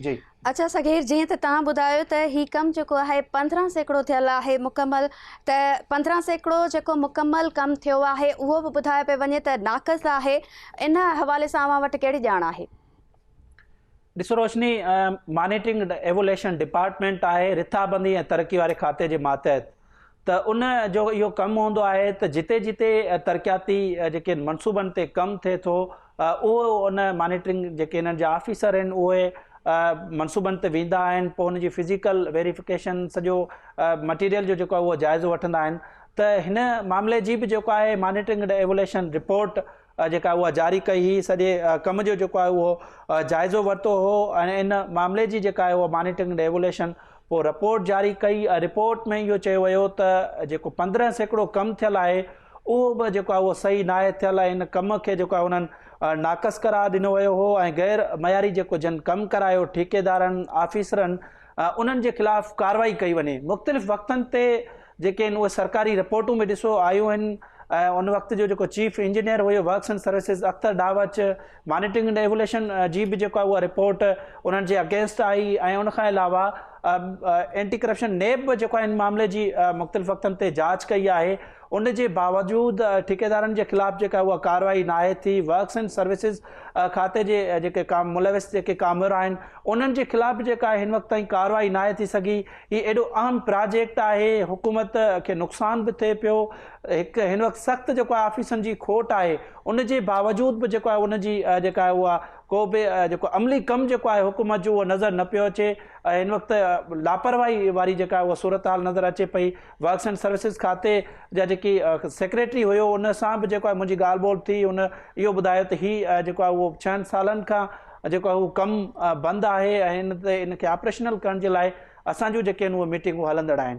جي. اچا صغير جيئن ته توهان ٻڌايو ته هي ڪم جيڪو آهي پندرهن سيڪڙو ٿيل آهي مڪمل ته پندرهن سيڪڙو جيڪو مڪمل ڪم ٿيو آهي اهو به ٻڌايو پئي وڃي ته ناقص آهي ان حوالي سان اوهان وٽ ڪهڙي ڄاڻ آهي. ڏسو روشني مانيٽرنگ ايووليشن ڊپارٽمينٽ آهي رٿابندي ۽ ترقي واري کاتي جي ماتحت ته ان جو اهو ڪم هوندو آهي ته جتي جتي ترقياتي جيڪي منصوبن تي ڪم ٿئي ٿو اهو ان مانيٽرنگ جيڪي انهن جا آفيسر آهن اهي منصوبن تي ويندا آهن پوء ان جي فزيڪل ويريفڪيشن سڄو مٽيريل جو جيڪو اهو جائزو وٺندا آهن ته هن معاملي جي به جيڪو آهي مانيٽرنگ ڊ ايوليشن رپورٽ جيڪا اها جاري ڪئي هئي سڄي ڪم جو جيڪو آهي اهو جائزو ورتو هو ۽ ان معاملي جي جيڪا آهي اها مانيٽرنگ ۽ ايوليشن پوء رپورٽ جاري ڪئي ۽ رپورٽ ۾ اهو چيو ويو ته جيڪو پندرهن سيڪڙو ڪم ٿيل آهي اهو به جيڪو آهي اهو صحيح ناهي ٿيل ۽ ان ڪم کي جيڪو آهي انهن ناقص قرار ڏنو ويو هو ۽ غير معياري جيڪو جن ڪم ڪرايو ٺيڪيدارن آفيسرن انهن جي خلاف ڪارروائي ڪئي وڃي مختلف وقتن تي جيڪي ان اهي سرڪاري رپورٽون به ڏسو آيون آهن ۽ ان وقت جو جيڪو چيف انجنيئر هيو ورڪس اينڊ سروسز اختر ڊاوچ مانيٽرنگ اينڊ ايوليشن جي به جيڪو اها رپورٽ انهن جي اگينسٽ آئي ۽ ان کان علاوه اينٽي ڪرپشن نيب به جيڪو ان معاملي جي مختلف وقتن تي جاچ ڪئي آهي ان جي باوجود ٺيڪيدارن جي خلاف جيڪا اها ڪارروائي ناهي ٿي ورڪس اينڊ سروسز کاتي جي جيڪي ملوث جيڪي ڪامور آهن انهن جي خلاف به جيڪا هن وقت تائين ڪارروائي ناهي ٿي سگهي هي ايڏو اهم پراجيڪٽ آهي حڪومت کي نقصان به ٿئي پيو هڪ هن وقت سخت جيڪو آهي آفيسن جي کوٽ آهي ان جي باوجود به جيڪو آهي ان جي جيڪا آهي اها ڪو به جيڪو عملي ڪم جيڪو آهي حڪومت جو اهو نظر نه پيو اچي هن وقت لاپرواهي واري جيڪا آهي اها صورتحال نظر اچي پئي ورڪس اینڊ سروسز کاتي جا جيڪي سيڪريٽري هيو ان سان به جيڪو آهي منهنجي ڳالهه ٻولهه ٿي ان اهو ٻڌايو ته هي جيڪو آهي اهو ڇهن سالن کان جيڪو آهي اهو ڪم بند آهي ۽ ان تي ان کي آپريشنل ڪرڻ جي لاء اسان جون جيڪي آهن اهي ميٽنگون هلندڙ آهن.